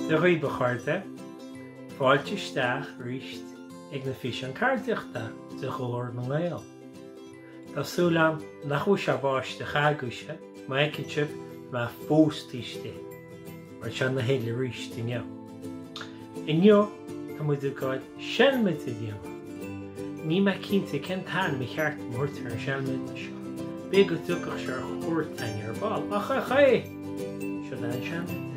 Dia dhaoibh a chairde, fáilte isteach arís ag na físeáin ceardaíochta de Ghlór na nGael! Tá súil agam nach bhfuil sé ag báisteach agaibhse, mar a fheiceann sibh tá mé fós taobh istigh. Mar tá sé ina thuile arís inniu. Inniu, tá muid ag gáil seilmide a dhéanamh. Níl mé cinnte cén t-ainm ar cheart dom a thabhairt ar an seilmide seo. B'fhéidir go dtiocfaidh sé ar chuairt againn ar ball, ach OK! Siod é an seilmide.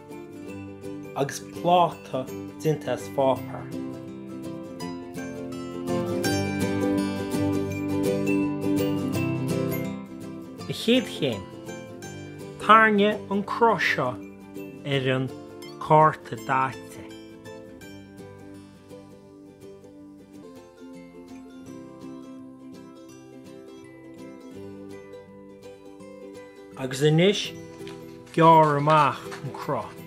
agus pláta déanta as páipéar. An chéad chéim, tarraing an cruth seo ar an cárta daite. Agus anois, gearr amach an cruth.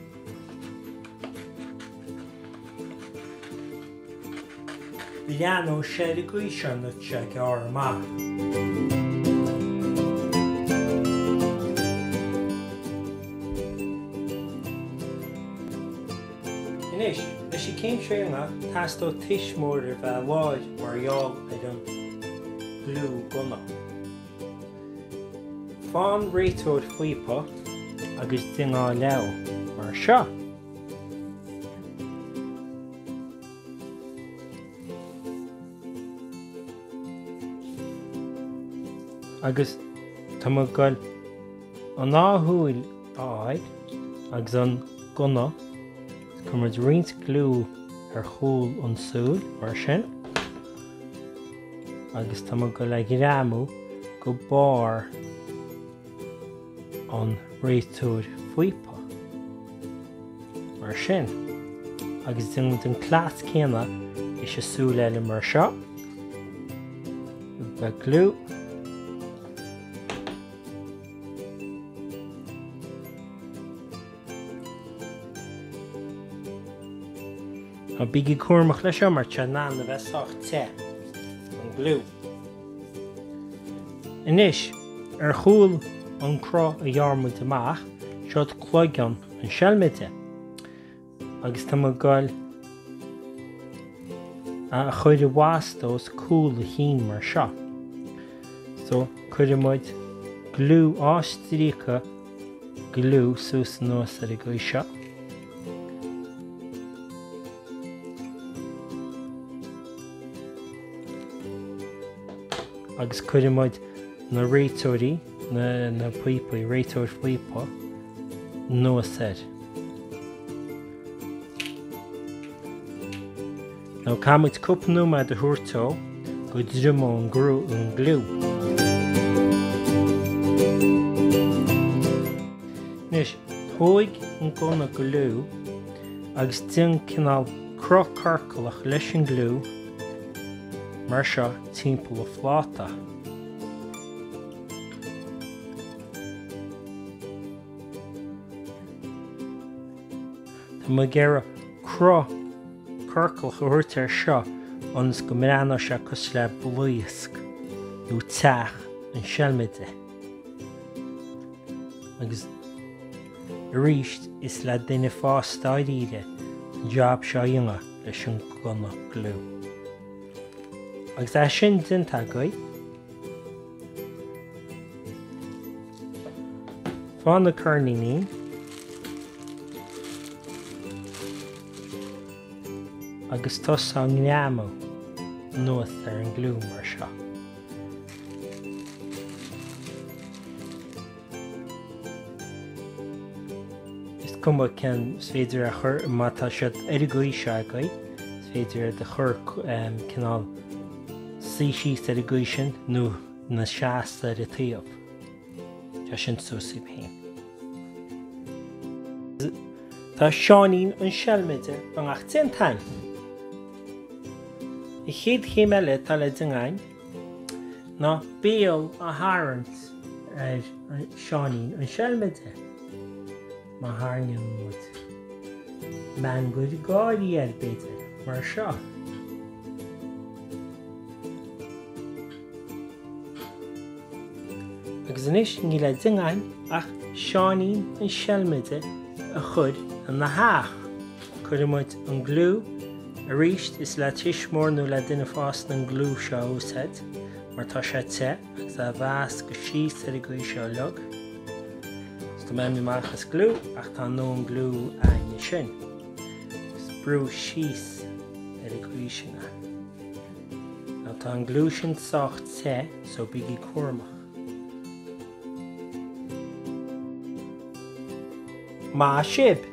Lean an seilmide seo agus é a ghearradh amach. Anois, leis an gcéim seo amach, teastóidh tuismitheoir a bheith láir mar gheall ar an fhliú gonach. Fonn réiteoir faopach agus dineá leamh, mar seo. Agus tá mo ghoil. An dá shúil a fháil agus an gunna, cuirfidh muid roinnt gliú ar chúl an tsúil, mar sin, agus tá muid ag goil é a ghreamú go barr an réiteoir píopa, mar sin, agus déan an cleas céanna leis an súil eile mar seo, beidh gliú, Á bígí cúramach leis seo mar tá sé in ann a bheith sách te. An gliú. Anois, ar chúl an cruth a ghearr muid amach, siod cloigeann an seilmide. agus tá mé ag goil á chur i bhfastó i gcúl a chinn mar seo. So, cuireann muid gliú dhá stríoca gliú suas anuas ar an gcaoi seo. agus cuireann muid na réiteoirí na píopaí, réiteoirí píopa, anuas air. Now caithfidh muid cúpla nóiméad a thabhairt dó go dtriomóidh an gliú. Anois tóig an gunna gliú agus déan cineál cruth ciorclach leis an gliú mar seo timpeall an phláta. Tá mé ag iarraidh cruth ciorclach a thabhairt ar seo ionas go mbreathnóidh sé cosúil le blaosc nó teach an seilmide. Agus arís is le duine fásta dáiríre an jab seo a dhéanamh leis an gunna gliú. Agus é sin déanta agaibh, Faigh na coirníní. Agus tosaigh á ngreamú anuas ar an gliú mar seo. Is cuma cén is féidir iad a chur má tá siad ar an gcaoi seo agaibh, is féidir iad a chur cineál suí síos ar an gcaoi sin nó ina seasamh ar a dtaobh. Tá sin suas daoibh féin. Tá Seáinín an seilmide beagnach déanta againn. An chéad chéim eile atá le déanamh againn, ná béal a tharraingt ar Seáinín an seilmide. Má tharraingíonn muid meangadh gáire air b'fhéidir, mar seo. Agus anois níl le déanamh againn ach Seáinín an seilmide a chur ina theach. Cuireann muid an gliú, arís, is le tuismitheoir nó le duine fásta an gliú seo a úsáid, mar tá sé te agus á mheas go síos ar an gcaoi seo a leag. Is tá mé beagnach amach as gliú, ach tá ár ndóthain gliú againn ansin, agus brúigh síos ar an gcaoi sin é. Now tá an gliú sin sách te, so bígí cúramach. Maith sibh!